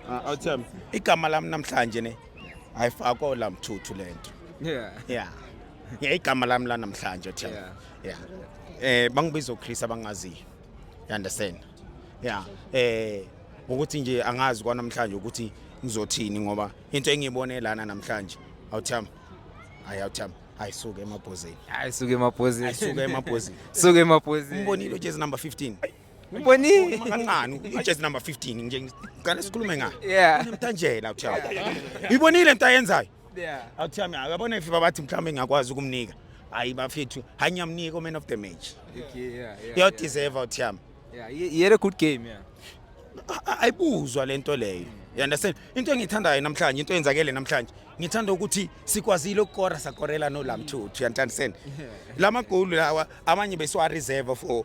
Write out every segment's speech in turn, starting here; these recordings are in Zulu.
Ah, awuthembi. Igama lami namhlanje ne ayifakwa la mthuthu lento. Yeah. Yeah. Yeah, igama lami la namhlanje Thembi. Yeah. Eh bangibiza uChris abangaziyo. You understand? Yeah. Eh ukuthi nje angazi kwanamhlanje ukuthi ngizothini ngoba into engiyibone lana namhlanje awuthembi. Hayi awuthembi. Ayisuke emabhozini. Ayisuke emabhozini. Ayisuke emabhozini. Suke emabhozini. Umbonile ujezi number 15. Ubonile kancane ijezi number 15 nje ngicela sikhulume ngayo. Yeah. Nemtanjela uthiwa. Uyibonile into ayenzayo? Yeah. Awuthiwa mina uyabona ififa bathi mhlawumbe ngiyakwazi ukumnika. Hayi bafethu, hanyamnika man of the match. Okay, yeah, yeah. Yo deserve uthiyama. Yeah, he had a good game, yeah. ayibuzwa lento leyo you understand into engiyithandayo namhlanje into eyenzakele namhlanje ngithanda ukuthi sikwazile ukukora sakorela nolamthuthu you understand la magoli lawa amanye besiwa-reserve for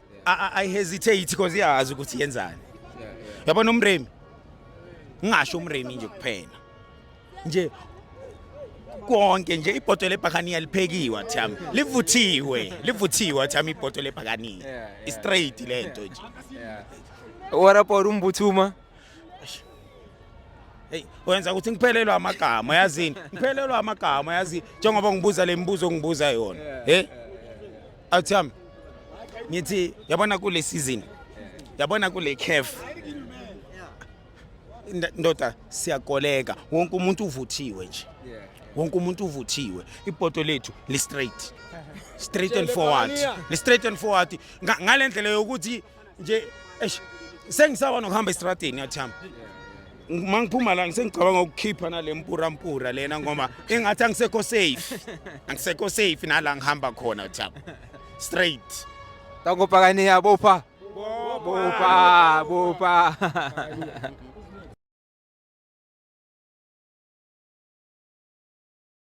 I hesitate because iyazi ukuthi yenzani. Yabona umremi. Ngingasho umremi nje kuphela. Nje konke nje ibhodo lebhakaniya liphekiwe thami livuthiwe livuthiwe thami ibhodo lebhakaniya i straight lento nje warapor umbuthuma Hey, wenza ukuthi ngiphelelwe amagama yazini. Ngiphelelwe amagama yazi njengoba ngibuza lemibuzo ngibuza yona. Hey, Awuthami. Ngithi yabona kule season. Yabona kule CAF. Nda- Ndoda siyakoleka. Wonke umuntu uvuthiwe nje. Wonke umuntu uvuthiwe. Ipoto lethu li straight. Straight and forward. Li straight and forward. Nga- Ngalendlela yokuthi nje eish sengisaba nokuhamba estradini yathami uma ngiphuma la ngisengicabanga ukukhipha nale mpura mpura lena ngoba engathi angisekho safe angisekho safe nala ngihamba khona uthami straight tangopakane yabopha bopha bopha